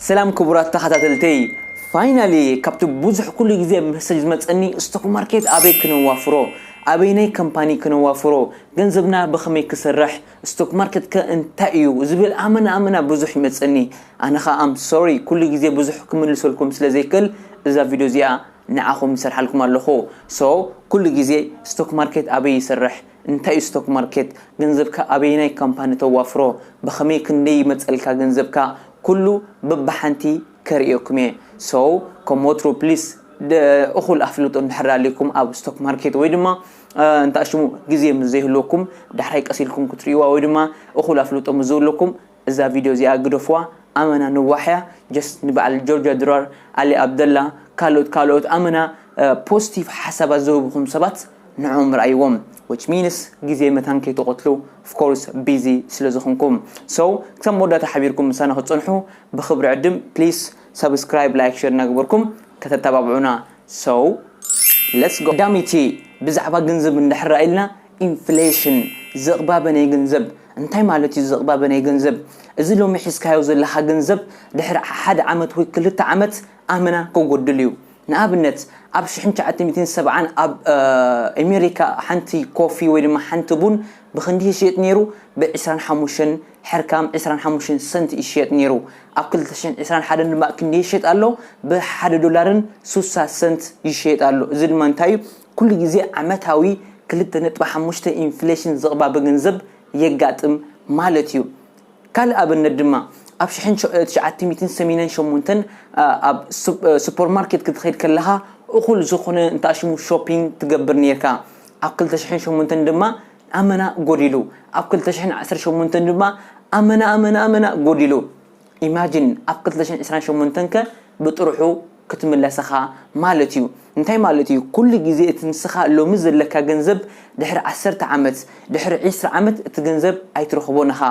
ሰላም ክቡራት ተኻታተልተይ ፋይናሊ ካብቲ ቡዙሕ ኩሉ ግዜ መሰጅ ዝመጸኒ ስቶክ ማርኬት ኣበይ ክነዋፍሮ ኣበይናይ ከምፓኒ ክነዋፍሮ ገንዘብና ብኸመይ ክሰርሕ ስቶክ ማርኬት ከ እንታይ እዩ ዝብል ኣመና ኣመና ቡዙሕ ይመጸኒ ኣነ ከኣ ኣም ሶሪ ኩሉ ግዜ ቡዙሕ ክምልሰልኩም ስለ ዘይክእል እዛ ቪድዮ እዚኣ ንዓኹም ይሰርሓልኩም ኣለኹ ሶ ኩሉ ግዜ ስቶክ ማርኬት ኣበይ ይሰርሕ እንታይ እዩ ስቶክ ማርኬት ገንዘብካ ኣበየናይ ካምፓኒ ተዋፍሮ ብከመይ ክንደይ ይመፀልካ ገንዘብካ ኩሉ በብሓንቲ ከርእየኩም እየ so ከም ወትሩ please እኩል ኣፍልጦ እንድሕር ኣልይኩም ኣብ ስቶክ ማርኬት ወይ ድማ እንተኣሽሙ ግዜ ምስ ዘይህልወኩም ዳሕራይ ቀስ ኢልኩም ክትርእይዋ ወይ ድማ እኩል ኣፍልጦ ምስ ዝህልወኩም እዛ ቪድዮ እዚኣ ግደፍዋ ኣመና ነዋሕ እያ ጀስት ንበዓል ጆርጃ ድራር ኣሊ ኣብደላ ካልኦት ካልኦት ኣመና ፖስቲቭ ሓሳባት ዝህቡኹም ሰባት ንዕኦም ርኣይዎም which means ግዜ መታን ከይትቐትሉ of course busy ስለ ዝኾንኩም so ክሳብ መወዳእታ ሓቢርኩም ምሳና ክትጸንሑ ብኽብሪ ዕድም please subscribe like share እናገበርኩም ከተተባብዑና so let's go ቀዳመይቲ ብዛዕባ ገንዘብ እንድሕር ርኣይልና ኢንፍሌሽን፣ ዝቕባበ ናይ ገንዘብ፣ እንታይ ማለት እዩ ዝቕባበ ናይ ገንዘብ? እዚ ሎሚ ሒዝካዮ ዘለኻ ገንዘብ ድሕሪ ሓደ ዓመት ወይ ክልተ ዓመት ኣመና ክጎድል እዩ። ንኣብነት ኣብ ሽሕን ትሽዓተ ሚእትን ሰብዓን ኣብ ኤሜሪካ ሓንቲ ኮፊ ወይ ድማ ሓንቲ ቡን ብኽንዲ ይሽየጥ ነይሩ? ብዕስራን ሓሙሽተን ሕርካም ዕስራን ሓሙሽተን ሰንት ይሽየጥ ነይሩ። ኣብ ክልተ ሽሕን ዕስራን ሓደን ድማ ክንደይ ይሽየጥ ኣሎ? ብሓደ ዶላርን ሱሳ ሰንት ይሽየጥ ኣሎ። እዚ ድማ እንታይ እዩ? ኩሉ ግዜ ዓመታዊ ክልተ ነጥቢ ሓሙሽተ ኢንፍሌሽን ዝቕባበ ገንዘብ የጋጥም ማለት እዩ። ካልእ ኣብነት ድማ ኣብ ሽሕን ትሽዓተ ሚእትን ሰሚነን ሸሞንተን ኣብ ሱፐርማርኬት ክትኸይድ ከለኻ እኹል ዝኾነ እንተኣሽሙ ሾፒንግ ትገብር ኔርካ ኣብ ክልተ ሽሕን ሸሞንተን ድማ ኣመና ጎዲሉ ኣብ ክልተ ሽሕን ዓሰርተ ሸሞንተን ድማ ኣመና ኣመና ኣመና ጎዲሉ Imagine ኣብ ክልተ ሽሕን ዕስራን ሸሞንተን ከ ብጥርሑ ክትምለሰኻ ማለት እዩ እንታይ ማለት እዩ ኩሉ ግዜ እቲ ንስኻ ሎሚ ዘለካ ገንዘብ ድሕሪ ዓሰርተ ዓመት ድሕሪ ዕስራ ዓመት እቲ ገንዘብ ኣይትረኽቦን እኻ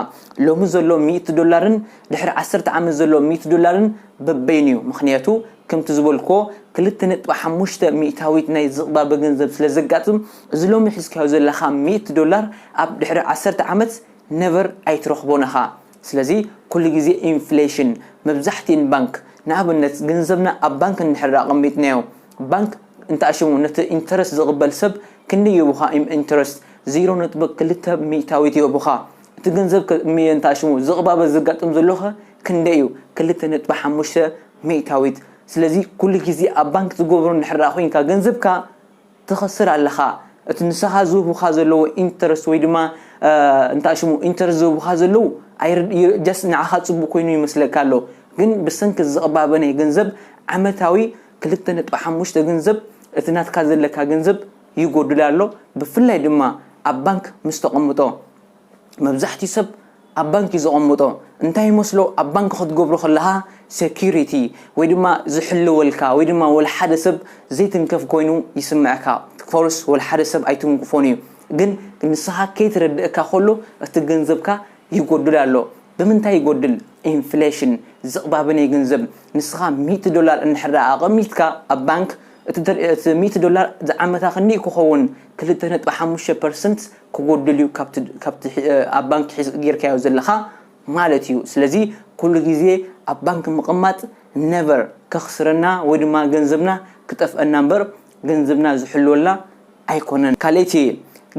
ሎሚ ዘሎ ሚእቲ ዶላርን ድሕሪ ዓሰርተ ዓመት ዘሎ ሚእቲ ዶላርን በበይኑ እዩ ምኽንያቱ ከምቲ ዝበልክዎ ክልተ ነጥቢ ሓሙሽተ ሚእታዊት ናይ ዝቕባበ ገንዘብ ስለ ዘጋጥም እዚ ሎሚ ሒዝካዮ ዘለኻ ሚእቲ ዶላር ኣብ ድሕሪ ዓሰርተ ዓመት ነቨር ኣይትረኽቦን እኻ ስለዚ ኩሉ ግዜ ኢንፍሌሽን መብዛሕቲኤን ባንክ ንኣብነት ገንዘብና ኣብ ባንክ እንድሕር ኣቐሚጥናዮ ባንክ እንተኣሽሙ ነቲ ኢንተረስት ዝቕበል ሰብ ክንደይ ይህቡኻ ኢም ኢንተረስት ዜሮ ነጥቢ ክልተ ሚእታዊት ይህቡኻ እቲ ገንዘብ ከ እንተኣሽሙ ዝቕባበ ዘጋጥም ዘሎኸ ክንደይ ኢዩ ክልተ ነጥቢ ሓሙሽተ ሚእታዊት ስለዚ ኩሉ ግዜ ኣብ ባንክ ዝገብሮ እንድሕር ኮይንካ ገንዘብካ ትኸስር ኣለኻ እቲ ንሰኻ ዝህቡኻ ዘለዎ ኢንተረስት ወይ ድማ እንታይ ሽሙ ኢንተረስት ዝህቡኻ ዘለዉ ጀስት ንዓኻ ፅቡቕ ኮይኑ ይመስለካ ኣሎ ግን ብሰንኪ እዚ ዝቕባበ ናይ ገንዘብ ዓመታዊ ክልተ ነጥቢ ሓሙሽተ ገንዘብ እቲ ናትካ ዘለካ ገንዘብ ይጎድል ኣሎ ብፍላይ ድማ ኣብ ባንክ ምስ ተቐምጦ መብዛሕትኡ ሰብ ኣብ ባንክ እዩ ዘቐምጦ እንታይ ይመስሎ ኣብ ባንክ ክትገብሮ ከለኻ ሴኩሪቲ ወይ ድማ ዝሕልወልካ ወይ ድማ ወላ ሓደ ሰብ ዘይትንከፍ ኮይኑ ይስምዐካ ፎርስ ወላ ሓደ ሰብ ኣይትንክፎን እዩ ግን ንስኻ ከይትረድእካ ከሎ እቲ ገንዘብካ ይጎድል ኣሎ ብምንታይ ይጎድል ኢንፍሌሽን ዝቕባበ ናይ ገንዘብ ንስኻ ሚእቲ ዶላር እንድሕር ደኣ ኣቐሚጥካ ኣብ ባንክ እቲ ሚእቲ ዶላር ዝዓመታ ክንደይ ክኸውን ክልተ ነጥቢ ሓሙሽተ ፐርሰንት ክጎድል እዩ ካብቲ ካብቲ ኣብ ባንኪ ሒዝ ጌርካዮ ዘለኻ ማለት እዩ ስለዚ ኩሉ ግዜ ኣብ ባንኪ ምቕማጥ never ከኽስረና ወይ ድማ ገንዘብና ክጠፍኣና እምበር ገንዘብና ዝሕልወልና ኣይኮነን ካልኣይቲ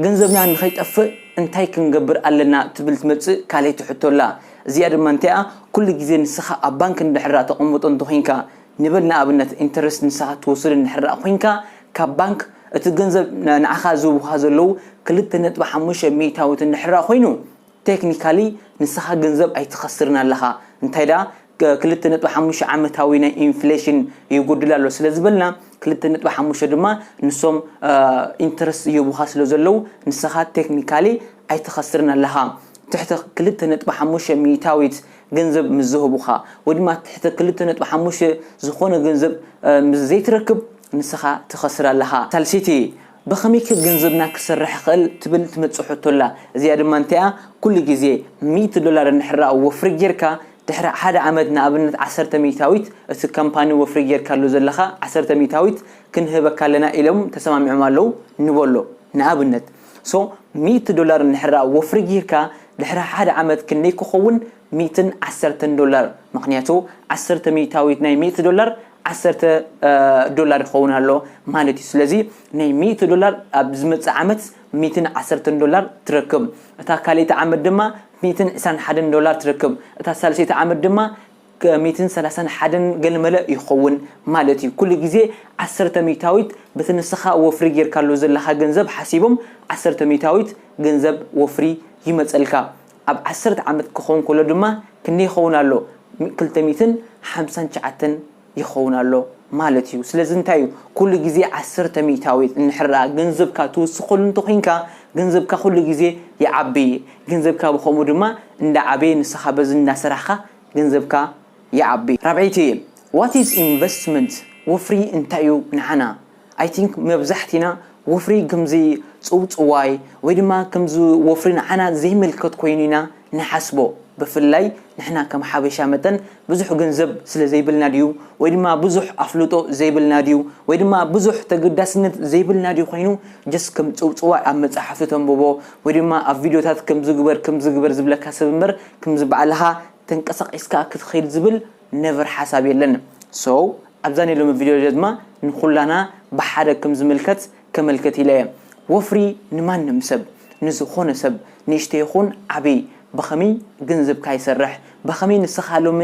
ገንዘብና ንኸይጠፍእ እንታይ ክንገብር ኣለና ትብል ትመጽእ ካልኣይቲ ሕቶ ኣላ እዚኣ ድማ እንታይ'ያ ኩሉ ግዜ ንስኻ ኣብ ባንኪ እንድሕር ዳኣ ተቐምጦ እንተኾይንካ ንበል ንኣብነት ኢንተረስት ንስኻ እትወስድ እንድሕር ደኣ ኮይንካ ካብ ባንክ እቲ ገንዘብ ንዓኻ ዝህቡኻ ዘለዉ ክልተ ነጥቢ ሓሙሽተ ሚኢታዊት እንድሕር ደኣ ኮይኑ ቴክኒካሊ ንስኻ ገንዘብ ኣይትኸስርን ኣለኻ እንታይ ደኣ ክልተ ነጥቢ ሓሙሽተ ዓመታዊ ናይ ኢንፍሌሽን ይጉድል ኣሎ ስለ ዝበልና ክልተ ነጥቢ ሓሙሽተ ድማ ንሶም ኢንተረስት ይህቡኻ ስለ ዘለዉ ንስኻ ቴክኒካሊ ኣይትኸስርን ኣለኻ ትሕቲ ክልተ ነጥቢ ሓሙሽተ ሚኢታዊት ገንዘብ ምስ ዝህቡኻ ወይ ድማ ትሕቲ ክልተ ነጥቢ ሓሙሽተ ዝኾነ ገንዘብ ምስ ዘይትረክብ ንስኻ ትኸስር ኣለኻ። ሳልሰይቲ፣ ብኸመይከ ገንዘብና ክሰርሕ ይኽእል ትብል ትመጽእ ሕቶ ኣላ። እዚኣ ድማ እንታይ'ያ? ኩሉ ግዜ ሚእቲ ዶላር እንድሕር ወፍሪ ጌርካ ድሕሪ ሓደ ዓመት ንኣብነት ዓሰርተ ሚእታዊት እቲ ካምፓኒ ወፍሪ ጌርካሉ ዘለኻ ዓሰርተ ሚእታዊት ክንህበካ ኣለና ኢሎም ተሰማሚዖም ኣለዉ ንበሎ ንኣብነት። so ሚእቲ ዶላር እንድሕራ ወፍሪ ጊርካ ድሕሪ ሓደ ዓመት ክንደይ ክኾውን ሚእትን ዓሰርተን ዶላር ምኽንያቱ ዓሰርተ ሚእታዊት ናይ ሚእቲ ዶላር ዓሰርተ ዶላር ይኸውን ኣሎ ማለት እዩ ስለዚ ናይ ሚእቲ ዶላር ኣብ ዝመጽእ ዓመት ሚእትን ዓሰርተን ዶላር ትረክብ እታ ካልኣይቲ ዓመት ድማ ሚእትን ዕስራን ሓደን ዶላር ትረክብ እታ ሳልሰይቲ ዓመት ድማ ሚእትን ሰላሳን ሓደን ገለመለ ይኸውን ማለት እዩ። ኩሉ ግዜ ዓሰርተ ሚእታዊት በቲ ንስኻ ወፍሪ ጌርካሉ ዘለኻ ገንዘብ ሓሲቦም ዓሰርተ ሚእታዊት ገንዘብ ወፍሪ ይመጸልካ። ኣብ ዓሰርተ ዓመት ክኸውን ከሎ ድማ ክንደይ ይኸውን ኣሎ? ክልተ ሚእትን ሓምሳን ትሽዓተን ይኸውን ኣሎ ማለት እዩ። ስለዚ እንታይ እዩ ኩሉ ግዜ ዓሰርተ ሚእታዊት እንድሕር ገንዘብካ ትውስኸሉ እንተ ኹይንካ ገንዘብካ ኩሉ ግዜ ይዓቢ። ገንዘብካ ብኸምኡ ድማ እንዳዓበየ ንስኻ በዚ እንዳሰራሕኻ ገንዘብካ ይዓቢ። ራብዐይቲ What is investment ወፍሪ እንታይ እዩ ንዓና? I think መብዛሕቲና ወፍሪ ከምዚ ጽውጽዋይ ወይ ድማ ከምዚ ወፍሪ ንዓና ዘይምልከት ኮይኑ ኢና ንሓስቦ ብፍላይ ንሕና ከም ሓበሻ መጠን ብዙሕ ገንዘብ ስለ ዘይብልና ድዩ ወይ ድማ ብዙሕ ኣፍልጦ ዘይብልና ድዩ ወይ ድማ ብዙሕ ተገዳስነት ዘይብልና ድዩ ኮይኑ just ከም ጽውጽዋይ ኣብ መጻሕፍቲ ተንብቦ ወይ ድማ ኣብ ቪድዮታት ከምዚ ግበር ከምዚ ግበር ዝብለካ ሰብ እምበር ክምዚ ባዕልኻ ተንቀሳቂስካ ክትኺድ ዝብል ነቨር ሓሳብ የለን so ኣብዛ ናይ ሎሚ ቪድዮ ደድማ ንኹላና ብሓደ ክም ዝምልከት ከመልክት ኢለ እየ ወፍሪ ንማንም ሰብ ንዝኾነ ሰብ ንእሽተይ ይኹን ዓብይ ብኸምይ ግንዝብካ ይሰርሕ ብኸምይ ንስኻ ሎሚ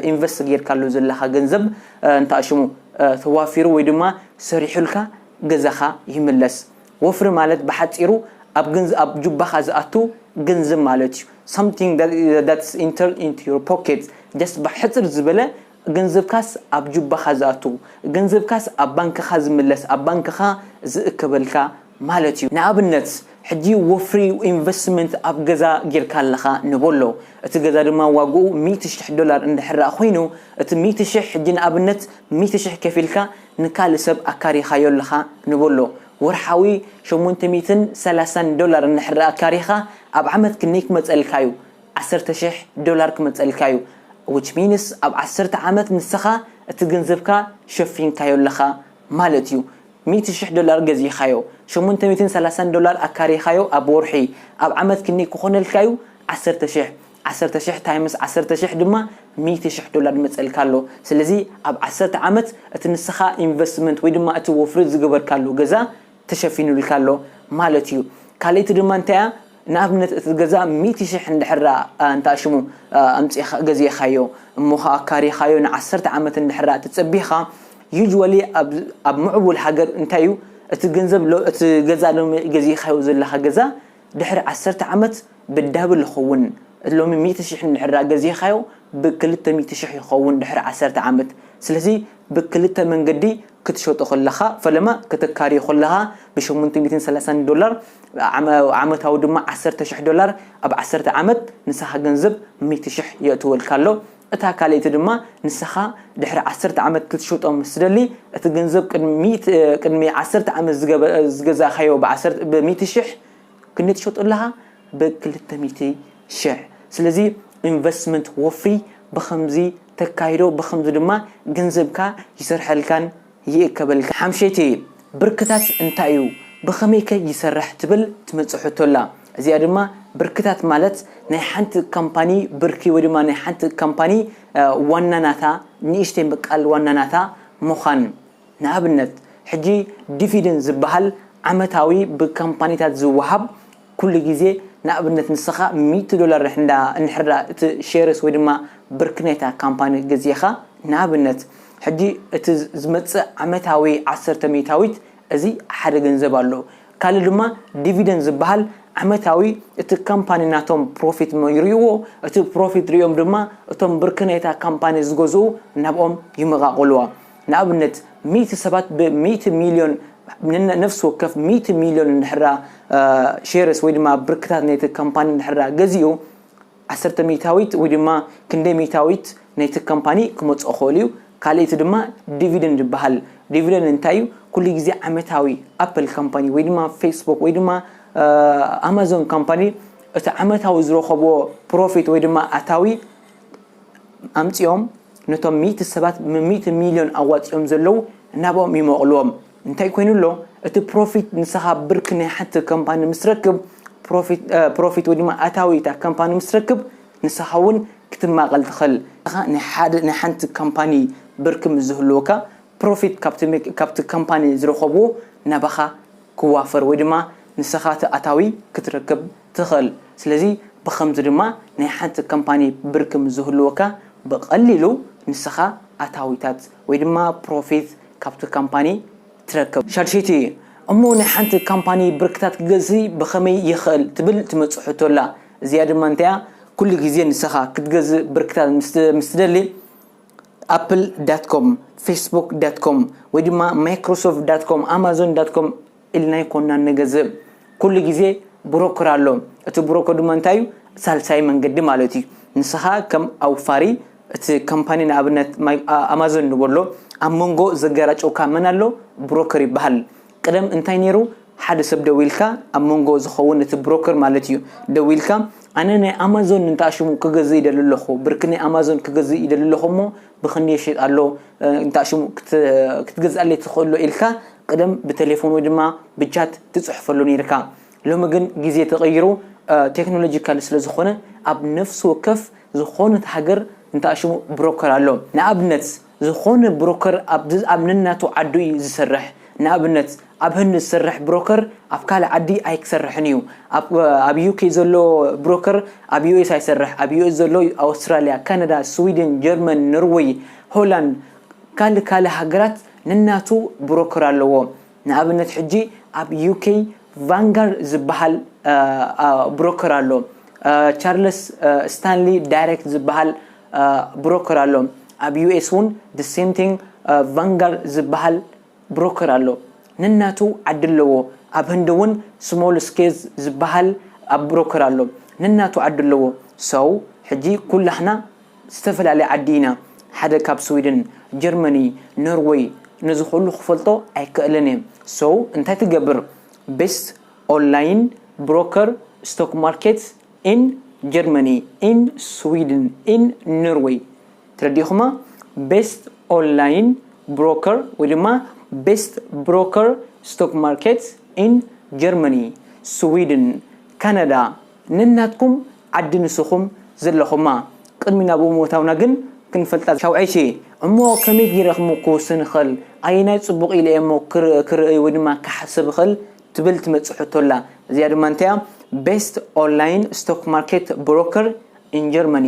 ኢንቨስት ጌርካሉ ዘለኻ ገንዘብ እንታይ ሽሙ ተዋፊሩ ወይ ድማ ሰሪሑልካ ገዛኻ ይምለስ ወፍሪ ማለት ብሓጺሩ ኣብ ኣብ ጁባኻ ዝኣቱ ገንዘብ ማለት እዩ something that that is entered into your pocket just ብሕጽር ዝበለ ገንዘብካስ ኣብ ጁባኻ ዝኣቱ ገንዘብካስ ኣብ ባንክኻ ዝምለስ ኣብ ባንክኻ ዝእከበልካ ማለት እዩ ንኣብነት ሕጂ ወፍሪ ኢንቨስትመንት ኣብ ገዛ ጌርካ ኣለኻ ንበሎ እቲ ገዛ ድማ ዋግኡ ሚእቲ ሽሕ ዶላር እንድሕር ኮይኑ እቲ ሚእቲ ሽሕ ሕጂ ንኣብነት ሚእቲ ሽሕ ከፊልካ ንካልእ ሰብ ኣካሪኻዮ ኣለኻ ንበሎ ወርሓዊ ሸሞንተ ሚእትን ሰላሳን ዶላር እንድሕር ኣካሪኻ ኣብ ዓመት ክንደይ ክመጸልካ እዩ ዓሰርተ ሽሕ ዶላር ክመጸልካ እዩ which means ኣብ ዓሰርተ ዓመት ንስኻ እቲ ገንዘብካ ሸፊንካዮ ኣለኻ ማለት እዩ ሚእቲ ሽሕ ዶላር ገዚእኻዮ ሸሞንተ ሚእትን ሰላሳን ዶላር ኣካሪኻዮ ኣብ ወርሒ ኣብ ዓመት ክንደይ ክኾነልካ እዩ ዓሰርተ ሽሕ ዓሰርተ ሽሕ ታይምስ ዓሰርተ ሽሕ ድማ ሚእቲ ሽሕ ዶላር ይመጸልካ ኣሎ ስለዚ ኣብ ዓሰርተ ዓመት እቲ ንስኻ ኢንቨስትመንት ወይ ድማ እቲ ወፍሪ ዝገበርካሉ ገዛ ተሸፊኑልካ ኣሎ ማለት እዩ ካልእቲ ድማ እንታይ እያ ንኣብነት እቲ ገዛ ሚእቲ ሽሕ እንድሕር እንታይ ሽሙ ኣምጺኻ ገዚእኻዮ እሞ ኸኣ ኣካሪኻዮ ንዓሰርተ ዓመት እንድሕር እቲ ጸቢኻ usually ኣብ ምዕቡል ሃገር እንታይ እዩ እቲ ገንዘብ እቲ ገዛ ሎሚ ገዚእኻዮ ዘለኻ ገዛ ድሕሪ ዓሰርተ ዓመት ብዳብል ይኸውን እቲ ሎሚ ሚእቲ ሽሕ እንድሕር ደኣ ገዚእኻዮ ብክልተ ሚእቲ ሽሕ ይኸውን ድሕሪ ዓሰርተ ዓመት ስለዚ ብክልተ መንገዲ ክትሸጦ ከለኻ ፈለማ ከተካርዮ ከለኻ ብሸሞንተ ሚእትን ሰላሳን ዶላር ዓመታዊ ድማ ዓሰርተ ሽሕ ዶላር ኣብ ዓሰርተ ዓመት ንስኻ ገንዘብ ሚእቲ ሽሕ የእትወልካ ኣሎ እታ ካልኣይቲ ድማ ንሰኻ ድሕሪ ዓሰርተ ዓመት ክትሸጦ ምስ ትደሊ እቲ ገንዘብ ቅድሚ ዓሰርተ ዓመት ዝገዛእካዮ ብሚእቲ ሽሕ ክንደይ ትሸጦ ኣለኻ ብክልተ ሚእቲ ሽሕ ስለዚ ኢንቨስትመንት ወፍሪ ብኸምዚ ተካይዶ ብኸምዚ ድማ ገንዘብካ ይሰርሐልካን ይእከበልካ ሓምሸይትየ ብርክታት እንታይ እዩ ብኸመይከ ይሰርሕ ትብል ትመጽእ ሕቶ ኣላ እዚኣ ድማ ብርክታት ማለት ናይ ሓንቲ ካምፓኒ ብርኪ ወይ ድማ ናይ ሓንቲ ካምፓኒ ዋና ናታ ንእሽተይ ምቃል ዋና ናታ ምዃን ንኣብነት ሕጂ ዲፊድን ዝበሃል ዓመታዊ ብካምፓኒታት ዝወሃብ ኩሉ ግዜ ንኣብነት ንስኻ ሚእቲ ዶላር እንዳ እንሕርዳ እቲ ሼርስ ወይ ድማ ብርኪ ናይታ ካምፓኒ ገዚእኻ ንኣብነት ሕጂ እቲ ዝመጽእ ዓመታዊ ዓሰርተ ሚእታዊት እዚ ሓደ ገንዘብ ኣሎ ካልእ ድማ ዲቪደንድ ዝብሃል ዓመታዊ እቲ ካምፓኒ ናቶም ፕሮፊት ይርእይዎ እቲ ፕሮፊት ርእዮም ድማ እቶም ብርኪ ናይታ ካምፓኒ ዝገዝኡ ናብኦም ይመቓቕልዋ ንኣብነት ሚእቲ ሰባት ብ ሚእቲ ሚልዮን ን ነፍሲ ወከፍ ሚእቲ ሚልዮን እንድሕር ሼርስ ወይ ድማ ብርክታት ናይቲ ካምፓኒ እንድሕር ገዚኡ ዓሰርተ ሚእታዊት ወይ ድማ ክንደይ ሚእታዊት ናይቲ ካምፓኒ ክመጽኦ ክእል እዩ ካልእቲ ድማ ዲቪደንድ ይበሃል ዲቪደንድ እንታይ እዩ ኩሉ ግዜ ዓመታዊ ኣፕል ካምፓኒ ወይ ድማ ፌስቡክ ወይ ድማ ኣማዞን ካምፓኒ እቲ ዓመታዊ ዝረኸብዎ ፕሮፊት ወይ ድማ ኣታዊ ኣምጺኦም ነቶም ሚእቲ ሰባት ሚእቲ ሚልዮን ኣዋጺኦም ዘለው ናብኦም ይመቕልዎም እንታይ ኮይኑ ኣሎ እቲ ፕሮፊት ንስኻ ብርኪ ናይ ሓንቲ ከምፓኒ ምስ ረክብ ፕሮፊት ወይ ድማ ኣታዊ እታ ከምፓኒ ምስ ረክብ ንስኻ እውን ክትማቐል ትኽእል ኢኻ ናይ ሓደ ናይ ሓንቲ ከምፓኒ ብርኪ ምስ ዝህልወካ ፕሮፊት ካብቲ ከምፓኒ ዝረኸብዎ ናባኻ ክዋፈር ወይ ድማ ንስኻ እቲ ኣታዊ ክትረክብ ትኽእል። ስለዚ ብኸምዚ ድማ ናይ ሓንቲ ካምፓኒ ብርኪ ምስ ዝህልወካ ብቐሊሉ ንስኻ ኣታዊታት ወይ ድማ ፕሮፊት ካብቲ ካምፓኒ ትረክብ። ሻድሸይቲ፣ እሞ ናይ ሓንቲ ካምፓኒ ብርክታት ክገዝሲ ብኸመይ ይኽእል ትብል ትመጽእ ሕቶ ኣላ። እዚኣ ድማ እንታይ እያ ኩሉ ግዜ ንስኻ ክትገዝእ ብርክታት ምስ ትደሊ ኣፕል ዳት ኮም፣ ፌስቡክ ዳት ኮም ወይ ድማ ማይክሮሶፍት ዳት ኮም፣ ኣማዞን ዳት ኮም፣ ኢልና ኣይኮናን ንገዝእ ኩሉ ግዜ ብሮከር ኣሎ እቲ ብሮከር ድማ እንታይ እዩ ሳልሳይ መንገዲ ማለት እዩ ንስኻ ከም ኣውፋሪ እቲ ካምፓኒ ንኣብነት ኣማዞን ንበሎ ኣብ መንጎ ዘገራጨውካ መን ኣሎ ብሮከር ይበሃል ቅደም እንታይ ነይሩ ሓደ ሰብ ደዊልካ ኣብ መንጎ ዝኸውን እቲ ብሮከር ማለት እዩ ደዊልካ ኣነ ናይ ኣማዞን እንተኣሽሙ ክገዝእ ይደሊ ኣለኹ ብርኪ ናይ ኣማዞን ክገዝእ ይደሊ ኣለኹ እሞ ብኽንደይ ይሽየጥ ኣሎ እንታ ሽሙ ክትገዝኣለይ ትኽእሎ ኢልካ ቅደም ብተሌፎን ወይ ድማ ብቻት ትጽሕፈሉ ነይርካ ሎሚ ግን ግዜ ተቐይሩ ቴክኖሎጂካል ስለ ዝኾነ ኣብ ነፍሲ ወከፍ ዝኾነት ሃገር እንታ ሽሙ ብሮከር ኣሎ ንኣብነት ዝኾነ ብሮከር ኣብ ነናቱ ዓዱ እዩ ዝሰርሕ ንኣብነት ኣብ ህንድ ዝሰርሕ ብሮከር ኣብ ካልእ ዓዲ ኣይክሰርሕን ኢዩ ኣብ ኣብ ዩኬ ዘሎ ብሮከር ኣብ ዩኤስ ኣይሰርሕ ኣብ ዩኤስ ዘሎ ኣውስትራልያ ካናዳ ስዊድን ጀርመን ኖርወይ ሆላንድ ካልእ ካልእ ሃገራት ነናቱ ብሮከር ኣለዎ ንኣብነት ሕጂ ኣብ ዩኬ ቫንጋር ዝበሃል ብሮከር ኣሎ ቻርለስ ስታንሊ ዳይሬክት ዝበሃል ብሮከር ኣሎ ኣብ ዩኤስ እውን the same thing ቫንጋር ዝበሃል ብሮከር ኣሎ ነናቱ ዓዲ ኣለዎ ኣብ ህንዲ ውን ስሞል ስኬዝ ዝባሃል ኣብ ብሮከር ኣሎ ነናቱ ዓዲ ኣለዎ so ሕጂ ኩላህና ዝተፈላለየ ዓዲ ኢና ሓደ ካብ ስዊድን ጀርመኒ ኖርወይ ነዚ ኩሉ ክፈልጦ ኣይከእልን እየ so እንታይ ትገብር best online broker stock market in Germany in Sweden in Norway ተረዲእኹማ ቤስት ኦንላይን ብሮከር ወይ ድማ ቤስት ብሮከር ስቶክ ማርኬት ኢን ጀርመኒ ስዊድን ካናዳ ነናትኩም ዓዲ ንስኹም ዘለኹማ ቅድሚ ናብኡ ምውታውና ግን ክንፈልጣ ሻውዐይቼ እሞ ከመይ ጊረ ክም ክውስን እኸል ኣየናይ ጽቡቕ ኢለ እየሞ ክርእይ ወይ ድማ ክሓስብ እኸል ትብል ትመጽእ ሕቶ ኣላ እዚኣ ድማ እንታያ ቤስት ኦንላይን ስቶክ ማርኬት ብሮከር ኢን ጀርመኒ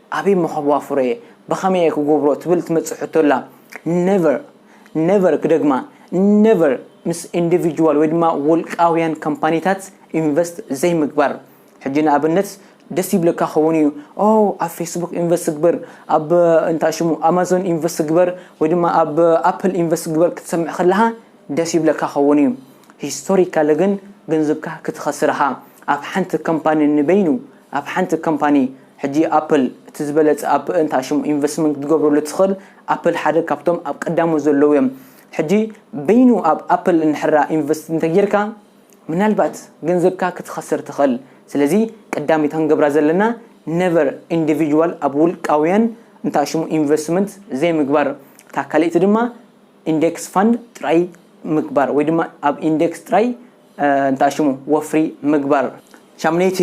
ኣበይ እሞ ከዋፍሮ እየ ብከመይ እየ ክጎብሮ ትብል ትመጽእ ሕቶ ኣላ ነቨር ነቨር ክደግማ ነቨር ምስ ኢንዲቪጅዋል ወይ ድማ ውልቃውያን ካምፓኒታት ኢንቨስት ዘይምግባር ሕጂ ንኣብነት ደስ ይብለካ ክኸውን እዩ ኦ ኣብ ፌስቡክ ኢንቨስት ግበር ኣብ እንታይ ሽሙ ኣማዞን ኢንቨስት ግበር ወይ ድማ ኣብ ኣፕል ኢንቨስት ግበር ክትሰምዕ ከለካ ደስ ይብለካ ክኸውን እዩ ሂስቶሪካሊ ግን ገንዘብካ ክትኸስር ኢኻ ኣብ ሓንቲ ካምፓኒ ንበይኑ ኣብ ሓንቲ ካምፓኒ ሕጂ ኣፕል እቲ ዝበለጸ ኣብ እንታ ሽሙ ኢንቨስትመንት ክትገብረሉ ትኽእል ኣፕል ሓደ ካብቶም ኣብ ቀዳሞት ዘለዉ እዮም ሕጂ በይኑ ኣብ ኣፕል እንድሕራ ኢንቨስት እንተጌርካ ምናልባት ገንዘብካ ክትኸስር ትኽእል ስለዚ ቀዳሚት ክንገብራ ዘለና ነቨር ኢንዲቪጅዋል ኣብ ውልቃውያን እንታ ሽሙ ኢንቨስትመንት ዘይምግባር እታ ካልእቲ ድማ ኢንደክስ ፋንድ ጥራይ ምግባር ወይ ድማ ኣብ ኢንደክስ ጥራይ እንታ ሽሙ ወፍሪ ምግባር። ሻምነይቲ፣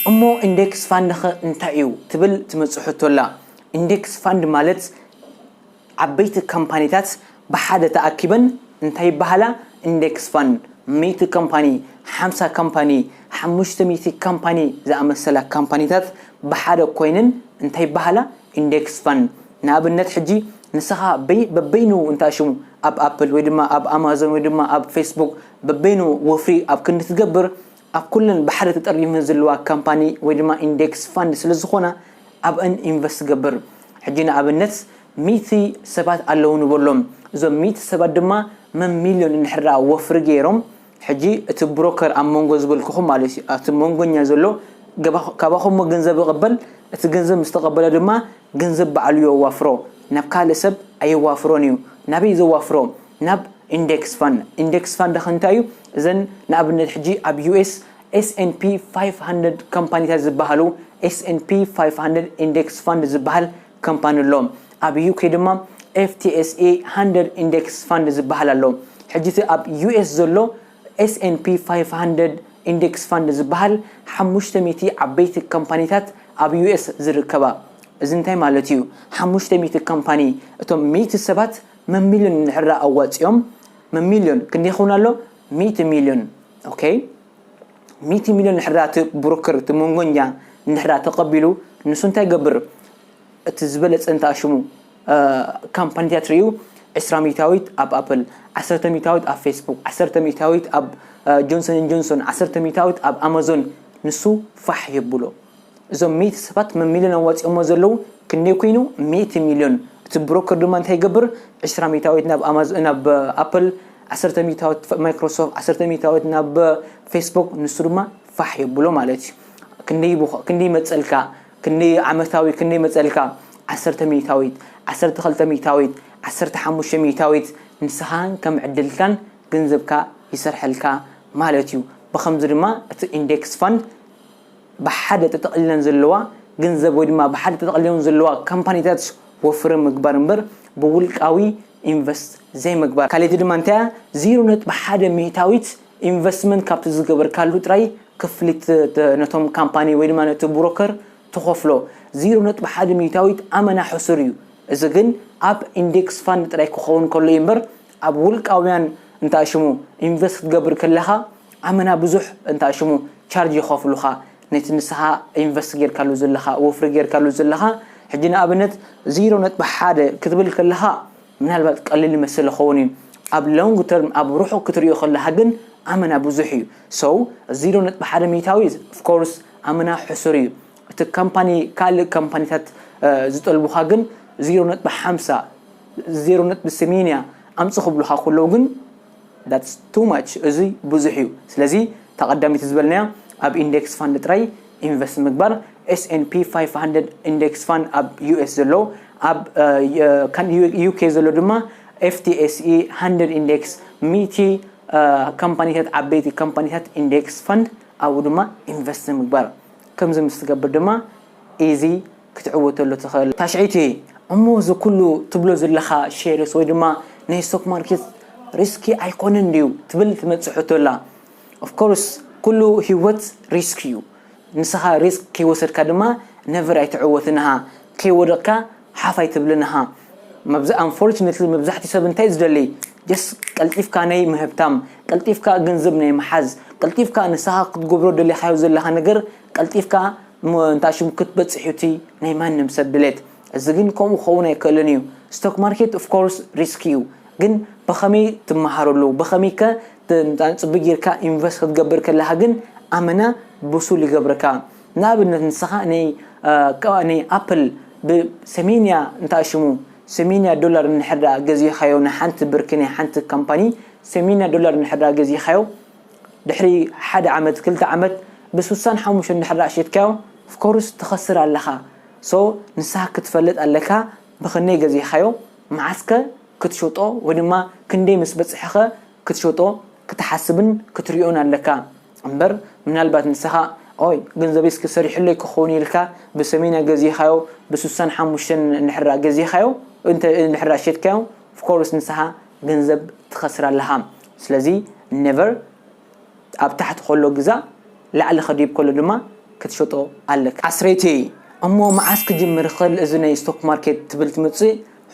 እሞ ኢንደክስ ፋንድኸ እንታይ'ዩ? ትብል ትመጽእ ሕቶ'ላ። ኢንደክስ ፋንድ ማለት ዓበይቲ ካምፓኒታት ብሓደ ተኣኪበን እንታይ ይበሃላ? ኢንደክስ ፋንድ። ሚእቲ ካምፓኒ፣ ሓምሳ ካምፓኒ፣ ሓሙሽተ ሚእቲ ካምፓኒ ዝኣመሰላ ካምፓኒታት ብሓደ ኮይነን እንታይ ይበሃላ? ኢንደክስ ፋንድ። ንኣብነት ሕጂ ንስኻ በበይኑ እንታ ሽሙ ኣብ ኣፕል ወይ ድማ ኣብ ኣማዞን ወይ ድማ ኣብ ፌስቡክ በበይኑ ወፍሪ ኣብ ክንዲ ትገብር ኣብ ኩለን ባሕሪ ተጠርኒፈን ዘለዋ ካምፓኒ ወይ ድማ ኢንዴክስ ፋንድ ስለ ዝኾና ኣብእን ኢንቨስት ትገብር። ሕጂ ንኣብነት ሚእቲ ሰባት ኣለዉ ንበሎም እዞም ሚእቲ ሰባት ድማ መም ሚልዮን እንድሕርደኣ ወፍሪ ገይሮም ሕጂ እቲ ብሮከር ኣብ መንጎ ዝበልኩኹም ማለት እዩ ኣብቲ መንጎኛ ዘሎ ገባ ካባኹምሞ ገንዘብ ይቕበል እቲ ገንዘብ ምስ ተቐበለ ድማ ገንዘብ ባዕሉ የዋፍሮ ናብ ካልእ ሰብ ኣየዋፍሮን እዩ ናበይ ዘዋፍሮ ናብ ኢንደክስ ፋንድ፣ ኢንደክስ ፋንድ ከ እንታይ እዩ? እዘን ንኣብነት ሕጂ ኣብ ዩኤስ ኤስ ኤንድ ፒ ፋይፍ ሃንድረድ ካምፓኒታት ዝበሃሉ ኤስ ኤንድ ፒ ፋይፍ ሃንድረድ ኢንደክስ ፋንድ ዝበሃል ካምፓኒ ኣሎ። ኣብ ዩኬ ድማ ኤፍ ቲ ኤስ ኤ ሃንድረድ ኢንደክስ ፋንድ ዝበሃል ኣሎ። ሕጂ እቲ ኣብ ዩኤስ ዘሎ ኤስ ኤንድ ፒ ፋይፍ ሃንድረድ ኢንደክስ ፋንድ ዝበሃል ሓሙሽተ ሚእቲ ዓበይቲ ካምፓኒታት ኣብ ዩኤስ ዝርከባ። እዚ እንታይ ማለት እዩ? ሓሙሽተ ሚእቲ ካምፓኒ እቶም ሚእቲ ሰባት መሚልዮን እንድሕራ ኣዋጺኦም መሚልዮን ክንደይ ይኸውን ኣሎ ሚእቲ ሚልዮን ኦከ ሚእቲ ሚልዮን እንድሕራ እቲ ብሮከር እቲ መንጎኛ እንድሕራ ተቐቢሉ ንሱ እንታይ ገብር እቲ ዝበለጸ እንታ ሽሙ ካምፓኒታት ርእዩ ዕስራ ሚእታዊት ኣብ ኣፕል ዓሰርተ ሚእታዊት ኣብ ፌስቡክ ዓሰርተ ሚእታዊት ኣብ ጆንሰንን ጆንሶን ዓሰርተ ሚእታዊት ኣብ ኣማዞን ንሱ ፋሕ የብሎ እዞም ሚእቲ ሰባት መን ሚልዮን ኣዋጺኦሞ ዘለዉ ክንደይ ኮይኑ ሚእቲ ሚልዮን እቲ ብሮከር ድማ እንታይ ይገብር ዕስራ ሚታዊት ናብ ኣማዞ ናብ ኣፕል ዓሰርተ ሚታዊት ማይክሮሶፍት ዓሰርተ ሚታዊት ናብ ፌስቡክ ንሱ ድማ ፋሕ የብሎ ማለት እዩ ክንደይ ክንደይ መጸልካ ክንደይ ዓመታዊ ክንደይ መጸልካ ዓሰርተ ሚታዊት ዓሰርተ ክልተ ሚታዊት ዓሰርተ ሓሙሽተ ሚታዊት ንስኻን ከም ዕድልካን ገንዘብካ ይሰርሐልካ ማለት እዩ ብኸምዚ ድማ እቲ ኢንዴክስ ፋንድ ብሓደ ተጠቕሊለን ዘለዋ ገንዘብ ወይ ድማ ብሓደ ተጠቕሊለን ዘለዋ ካምፓኒታት ወፍሪ ምግባር እምበር ብውልቃዊ ኢንቨስት ዘይምግባር። ካልኣይቲ ድማ እንታይ እያ? ዜሮ ነጥቢ ሓደ ሚእታዊት ኢንቨስትመንት ካብቲ ዝገበርካሉ ጥራይ ክፍሊት ነቶም ካምፓኒ ወይ ድማ ነቲ ብሮከር ትኸፍሎ። ዜሮ ነጥቢ ሓደ ሚእታዊት ኣመና ሕሱር እዩ። እዚ ግን ኣብ ኢንዴክስ ፋንድ ጥራይ ክኸውን ከሎ እዩ እምበር ኣብ ውልቃውያን እንተኣሽሙ ኢንቨስት ክትገብር ከለኻ ኣመና ብዙሕ እንተኣሽሙ ቻርጅ ይኸፍሉኻ ነቲ ንስኻ ኢንቨስት ጌርካሉ ዘለኻ ወፍሪ ጌርካሉ ዘለኻ ሕጂ ንኣብነት ዜሮ ነጥቢ ሓደ ክትብል ከለኻ ምናልባት ቀሊል ይመስል ይኸውን እዩ ኣብ ሎንግ ተርም ኣብ ርሑቕ ክትሪኦ ከለኻ ግን ኣመና ብዙሕ እዩ ሰው ዜሮ ነጥቢ ሓደ ሚእታዊ ኦፍኮርስ ኣመና ሕሱር እዩ እቲ ካምፓኒ ካልእ ካምፓኒታት ዝጠልቡኻ ግን ዜሮ ነጥቢ ሓምሳ፣ ዜሮ ነጥቢ ሰሜንያ፣ ኣምጽእ ክብሉኻ ከለዉ ግን that's too much እዚ ብዙሕ እዩ ስለዚ እታ ቀዳመይቲ ዝበልናያ ኣብ ኢንደክስ ፋንድ ጥራይ ኢንቨስት ምግባር SNP 500 ኢንደክስ ፋንድ ኣብ US ዘሎ ኣብ UK ዘሎ ድማ FTSE 100 ኢንደክስ ሚእቲ ካምፓኒታት ዓበይቲ ካምፓኒታት ኢንደክስ ፋንድ ኣብኡ ድማ ኢንቨስት ምግባር ከምዚ ምስ ትገብር ድማ ኢዚ ክትዕወተሉ ትክእል። ታሽዐይቲ፣ እሞ እዚ ኩሉ ትብሎ ዝለካ ሸርስ ወይ ድማ ናይ ስቶክ ማርኬት ሪስኪ ኣይኮነን ድዩ ትብል ትመጽእ ሕቶ ኣላ። ኦፍ ኮርስ ኩሉ ሂወት ሪስክ እዩ ንስካ ሪስክ ከይወሰድካ ድማ ነቨር ኣይትዕወትን እኻ ከይወደቅካ ሓፍ ኣይትብልንሃ መብዝ ኣንፎርችነትሊ መብዛሕትኡ ሰብ እንታይ ዝደሊ ጀስት ቀልጢፍካ ናይ ምህብታም ቀልጢፍካ ገንዘብ ናይ ምሓዝ ቀልጢፍካ ንስኻ ክትገብሮ ደሊኻዮ ዘለኻ ነገር ቀልጢፍካ ም- እንታይ ሽሙ ክትበጽሕ እዩ እቲ ናይ ማንም ሰብ ድሌት እዚ ግን ከምኡ ክኸውን ኣይክእልን እዩ ስቶክ ማርኬት ኦፍ ኮርስ ሪስክ እዩ ግን ብኸመይ ትመሃረሉ ብኸመይ ከ ት- ጽቡይ ጌርካ ኢንቨስት ክትገብር ከለኻ ግን ኣመና ብሱል ይገብረካ ንኣብነት ንስኻ ን ን ኣፕል ብ ሰሜንያ እንታይ ሽሙ ሰሜንያ ዶላር እንድሕር ድኣ ገዚእኻዮ ንሓንቲ ብር ክንይ ሓንቲ ካምፓኒ ሰሜንያ ዶላር እንድሕር ድኣ ገዚእኻዮ ድሕሪ ሓደ ዓመት ክልተ ዓመት ብ ስሳን ሓሙሽተን እንድሕር ድኣ ሸይጥካዮ of course ትኸስር ኣለኻ so ንስኻ ክትፈልጥ ኣለካ ብኽንደይ ገዚእኻዮ መዓስ ከ ክትሸጦ ወይ ድማ ክንደይ ምስ በጽሐ ከ ክትሸጦ ክትሓስብን ክትሪኦን ኣለካ። እምበር ምናልባት ንሰኻ ኦይ ገንዘበይ እስከ ሰሪሑለይ ክኸውን ኢልካ ብሰሜንያ ገዚእኻዮ ብስሳን ሓሙሽተን እንድሕራ ገዚእኻዮ እንተ እንድሕራ ሸጥካዮ of course ንሰኻ ገንዘብ ትኸስር ኣለኻ ስለዚ never ኣብ ታሕቲ ከሎ ግዛእ ላዕሊ ከዲብ ከሎ ድማ ክትሸጦ ኣለካ። ኣስረይተይ እሞ መዓስ ክጅምር ይኽል እዚ ናይ ስቶክ ማርኬት ትብል ትምጽእ?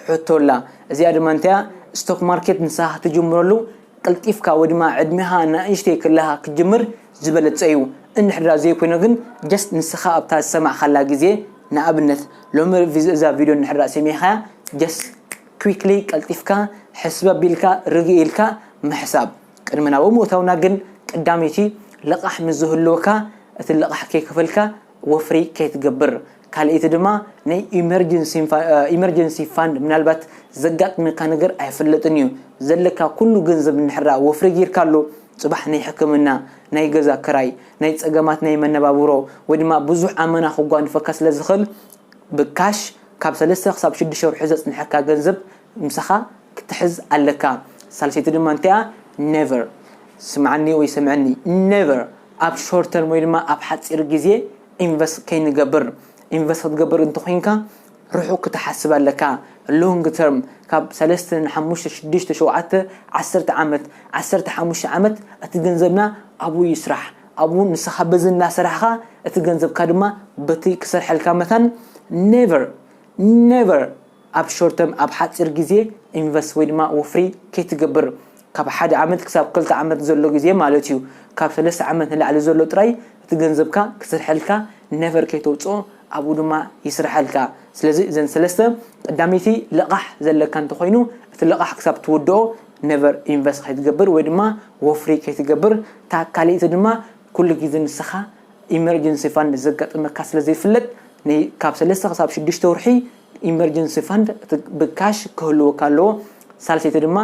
ሕቶ ኣላ እዚኣ ድማ እንታያ ስቶክ ማርኬት ንስኻ ክትጅምረሉ ቀልጢፍካ ወይ ድማ ዕድሜኻ ናእሽተይ ከለኻ ክትጅምር ዝበለጸ እዩ እንድሕድራ ዘይኮይኑ ግን just ንስኻ ኣብታ ዝሰማዕካላ ግዜ ንኣብነት ሎሚ እዛ ቪድዮ እንድሕድራ ሰሚዕኻያ just quickly ቀልጢፍካ ሕስበብ ኢልካ ርግእ ኢልካ ምሕሳብ ቅድሚ ናብ ምእታውና ግን ቀዳመይቲ ልቓሕ ምስ ዝህልወካ እቲ ልቓሕ ከይከፈልካ ወፍሪ ከይትገብር ካልኣይቲ ድማ ናይ ኢመርጀንሲ ፋንድ ምናልባት ዘጋጥመካ ነገር ኣይፍለጥን እዩ ዘለካ ኩሉ ገንዘብ እንድሕራ ወፍሪ ጊርካሉ ጽባሕ ናይ ሕክምና ናይ ገዛ ክራይ ናይ ጸገማት ናይ መነባብሮ ወይ ድማ ብዙሕ ኣመና ክጓንፈካ ስለ ዝኽል ብካሽ ካብ ሰለስተ ክሳብ ሽዱሽተ ወርሒ ዘጽንሐካ ገንዘብ ምሳኻ ክትሕዝ ኣለካ ሳልሰይቲ ድማ እንታይ እያ never ስምዓኒ ወይ ሰምዕኒ never ኣብ short term ወይ ድማ ኣብ ሓጺር ግዜ invest ከይንገብር invest ክትገብር እንተኾይንካ ርሑቕ ክትሓስብ ኣለካ long term ካብ ሰለስተ ን ሓሙሽተ ሽዱሽተ ሸውዓተ ዓሰርተ ዓመት ዓሰርተ ሓሙሽተ ዓመት እቲ ገንዘብና ኣብኡ ይስራሕ ኣብኡ ንስኻ በዚ እናሰራሕኻ እቲ ገንዘብካ ድማ በቲ ክሰርሐልካ መታን never never ኣብ ሾርት ተርም ኣብ ሓጺር ግዜ ኢንቨስት ወይ ድማ ወፍሪ ከይትገብር ካብ ሓደ ዓመት ክሳብ ክልተ ዓመት ዘሎ ግዜ ማለት እዩ ካብ ሰለስተ ዓመት ንላዕሊ ዘሎ ጥራይ እቲ ገንዘብካ ክስርሐልካ ነቨር ከይተውጽኦ ኣብኡ ድማ ይስርሐልካ ስለዚ እዘን ሰለስተ ቀዳመይቲ ልቓሕ ዘለካ እንተኾይኑ እቲ ልቓሕ ክሳብ ትውድኦ ነቨር ኢንቨስት ከይትገብር ወይ ድማ ወፍሪ ከይትገብር እታ ካልኣይቲ ድማ ኩሉ ግዜ ንስኻ ኢመርጀንሲ ፋንድ ዘጋጥመካ ስለዘይፍለጥ ካብ ሰለስተ ክሳብ ሽዱሽተ ወርሒ ኢመርጀንሲ ፈንድ ብካሽ ክህልወካ ኣለዎ ሳልሰይቲ ድማ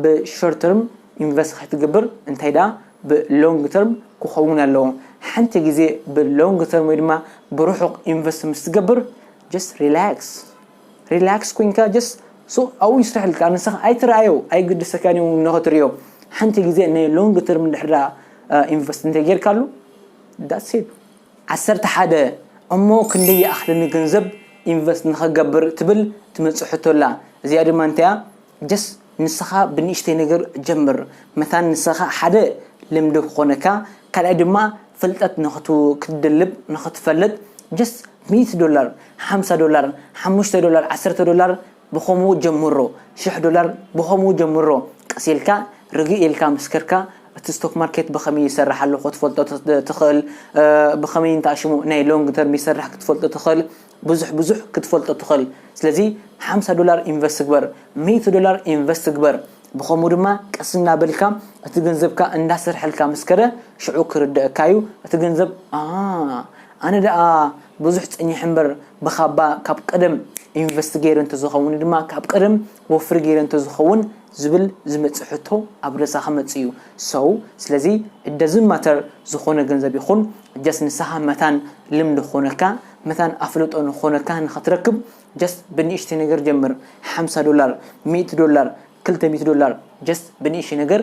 ብሾርተርም ኢንቨስት ከይትገብር እንታይ ደኣ ብሎንግ ተርም ክኸውን ኣለዎ ሓንቲ ግዜ ብሎንግ ተርም ወይ ድማ ብርሑቕ ኢንቨስት ምስ ትገብር ጀስት ሪላክስ ሪላክስ ኮይንካ ጀስት ሱቕ ኣብኡ ይስረሐልካ ንስኻ ኣይትርኣዮ ኣይግድሰካን እዩ ንኽትሪኦ ሓንቲ ግዜ ናይ ሎንግ ተርም ድሕራ ኢንቨስት እንተጌርካሉ ዳትስ ኢት ዓሰርተ ሓደ እሞ ክንደይ ይኣኽለኒ ገንዘብ ኢንቨስት ንኽገብር ትብል ትመጽእ ሕቶ ኣላ እዚኣ ድማ እንታያ ጀስት ንስኻ ብንእሽተይ ነገር ጀምር መታን ንስኻ ሓደ ልምዲ ክኾነካ ካልኣይ ድማ ፍልጠት ንኽትደልብ ንኽትፈልጥ ጀስት ሚእቲ ዶላር ሓምሳ ዶላር ሓሙሽተ ዶላር ዓሰርተ ዶላር ብኸምኡ ጀምሮ ሽሕ ዶላር ብኸምኡ ጀምሮ ቀስ ኢልካ ርግእ ኢልካ ምስ ከድካ እቲ ስቶክ ማርኬት ብኸመይ ይሰርሕ ኣሎ ክትፈልጦ ትኽእል ብኸመይ እንተ ኣሽሙ ናይ ሎንግ ተርም ይሰርሕ ክትፈልጦ ትኽእል ብዙሕ ብዙሕ ክትፈልጦ ትኽእል ስለዚ ሓምሳ ዶላር ኢንቨስት ግበር ሚእቲ ዶላር ኢንቨስት ግበር ብኸምኡ ድማ ቀስ እናበልካ እቲ ገንዘብካ እንዳሰርሐልካ ምስ ከደ ሽዑ ክርደኣካ እዩ እቲ ገንዘብ ኣሃ ኣነ ደኣ ብዙሕ ጸኒሐ እምበር ብካባ ካብ ቀደም ኢንቨስት ገይረ እንተዝኸውን ድማ ካብ ቀደም ወፍሪ ገይረ እንተዝኸውን ዝብል ዝመጽእ ሕቶ ኣብ ርእሳ ክመጽእ እዩ so ስለዚ it doesn't matter ዝኾነ ገንዘብ ይኹን just ንስኻ መታን ልምዲ ክኾነካ መታን ኣፍልጦ ንክኾነካ ንክትረክብ just ብንእሽተይ ነገር ጀምር ሓምሳ ዶላር ሚእቲ ዶላር ክልተ ሚእቲ ዶላር just ብንእሽተይ ነገር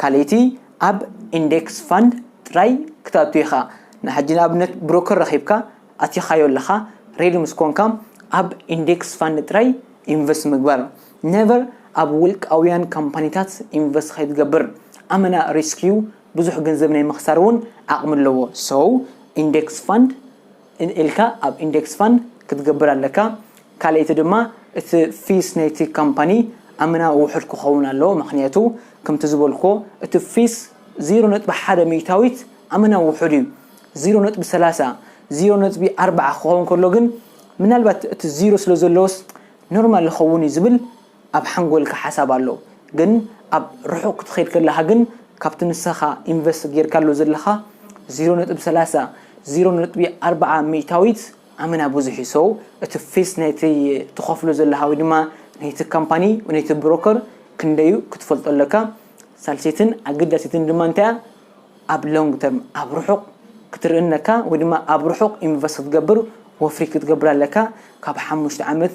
ካልኣይቲ ኣብ ኢንደክስ ፋንድ ጥራይ ክትኣቱ ኢኻ ንሓጂ ንኣብነት ብሮከር ረኺብካ ኣቲኻዮ ኣለኻ ሬዲ ምስ ኮንካ ኣብ ኢንደክስ ፋንድ ጥራይ ኢንቨስት ምግባር ነቨር ኣብ ውልቃውያን ካምፓኒታት ኢንቨስት ከይትገብር ኣመና ሪስክ ዩ ብዙሕ ገንዘብ ናይ ምኽሳር ውን ዓቕሚ ኣለዎ ሶ ኢንደክስ ፋንድ ኢልካ ኣብ ኢንደክስ ፋንድ ክትገብር ኣለካ ካልኣይቲ ድማ እቲ ፊስ ናይቲ ካምፓኒ ኣመናዊ ውሑድ ክኸውን ኣለዎ ምክንያቱ ከምቲ ዝበልክዎ እቲ ፊስ ዜሮ ነጥቢ ሓደ ሚእታዊት ኣመናዊ ውሑድ እዩ ዜሮ ነጥቢ ሰላሳ ዜሮ ነጥቢ ኣርባዓ ክኸውን ከሎ ግን ምናልባት እቲ ዜሮ ስለ ዘለዎስ ኖርማል ይኸውን እዩ ዝብል ኣብ ሓንጎልካ ሓሳብ ኣሎ ግን ኣብ ርሑቅ ክትከድ ከለካ ግን ካብቲ ንሰካ ኢንቨስት ጌርካሉ ዘለካ ዚሮ ነጥቢ ሰላሳ፣ ዚሮ ነጥቢ ኣርባዓ፣ ሚእታዊት ኣመና ብዙሕ እዩ so እቲ ፊስ ናይቲ ትከፍሎ ዘለካ ወይ ድማ ናይቲ ካምፓኒ ወይ ናይቲ ብሮከር ክንደይ እዩ ክትፈልጦ ኣለካ ሳልሰይትን ኣገዳሲትን ድማ እንታይ እያ ኣብ long term ኣብ ርሑቅ ክትርኢ ኣለካ ወይ ድማ ኣብ ርሑቅ ኢንቨስት ክትገብር ወፍሪ ክትገብር ኣለካ ካብ ሓሙሽተ ዓመት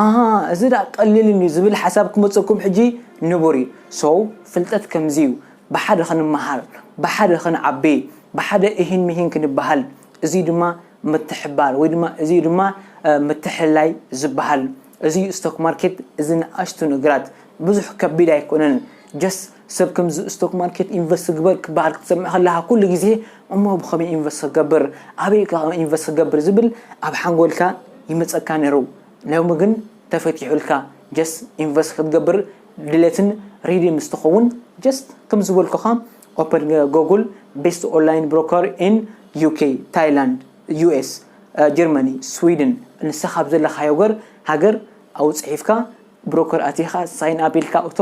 ኣሃ እዚ ድኣ ቀሊል እንድዩ ዝብል ሓሳብ ክመጸኩም ሕጂ ንቡር እዩ so ፍልጠት ከምዚ እዩ ብሓደ ክንመሃር ብሓደ ክንዓቢ ብሓደ እሂን ምሂን ክንበሃል እዚ እዩ ድማ ምትሕብባር ወይ ድማ እዚ እዩ ድማ ምትሕልላይ ዝበሃል እዚ እዩ ስቶክ ማርኬት እዚ ንኣሽቱ ነገራት ብዙሕ ከቢድ ኣይኮነን just ሰብ ከምዚ ስቶክ ማርኬት ኢንቨስት ግበር ክበሃል ክትሰምዕ ከለኻ ኩሉ ግዜ እሞ ብኸመይ ኢንቨስት ክገብር ኣበይ ከ ኢንቨስት ክገብር ዝብል ኣብ ሓንጎልካ ይመጸካ ነይሩ ሎሚ ግን ተፈቲሑልካ ጀስት ኢንቨስት ክትገብር ድሌትን ሪዲ ምስ ትኸውን ጀስት ከም ዝበልኩኻ ኦፐን ጎጉል ቤስት ኦንላይን ብሮከር ኢን ዩኬ ታይላንድ ዩኤስ ጀርመኒ ስዊድን ንስኻ ኣብ ዘለኻዮ ገር ሃገር ኣብኡ ጽሒፍካ ብሮከር ኣቲኻ ሳይን ኣፕ ኢልካ እቶ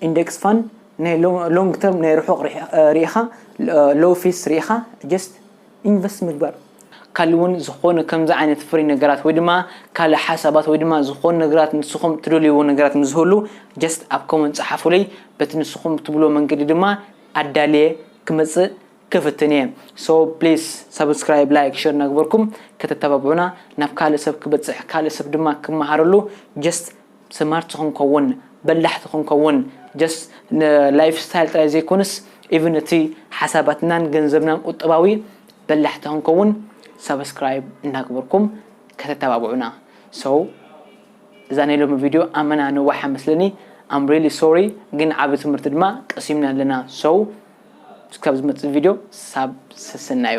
ኢንደክስ ፋንድ ናይ ሎንግ ተርም ናይ ርሑቕ ርኢኻ ሎው ፊስ ርኢኻ ጀስት ኢንቨስት ምግባር ካልእ እውን ዝኾነ ከምዚ ዓይነት ፍሪ ነገራት ወይ ድማ ካልእ ሓሳባት ወይ ድማ ዝኾኑ ነገራት ንስኹም ትደልይዎ ነገራት ምስ ዝህሉ ጀስት ኣብ ኮመንት ፀሓፉለይ በቲ ንስኹም ትብልዎ መንገዲ ድማ ኣዳልየ ክመፅእ ክፍትን እየ so please subscribe like share እናገበርኩም ከተተባብዑና ናብ ካልእ ሰብ ክበጽሕ ካልእ ሰብ ድማ ክመሃረሉ just smart ክንከውን በላሕቲ ክንከውን just ን life style ጥራይ ዘይኮነስ even እቲ ሓሳባትናን ገንዘብናን ቁጠባዊ በላሕቲ ክንከውን subscribe እናገበርኩም ከተተባብዑና so እዛ ናይ ሎሚ ቪድዮ ኣመና ነዋሓ መስለኒ I'm really sorry ግን ዓቢ ትምህርቲ ድማ ቀሲምና ኣለና so እስካብ ዝመፅእ ቪድዮ ሳብ ሰሰናዩ።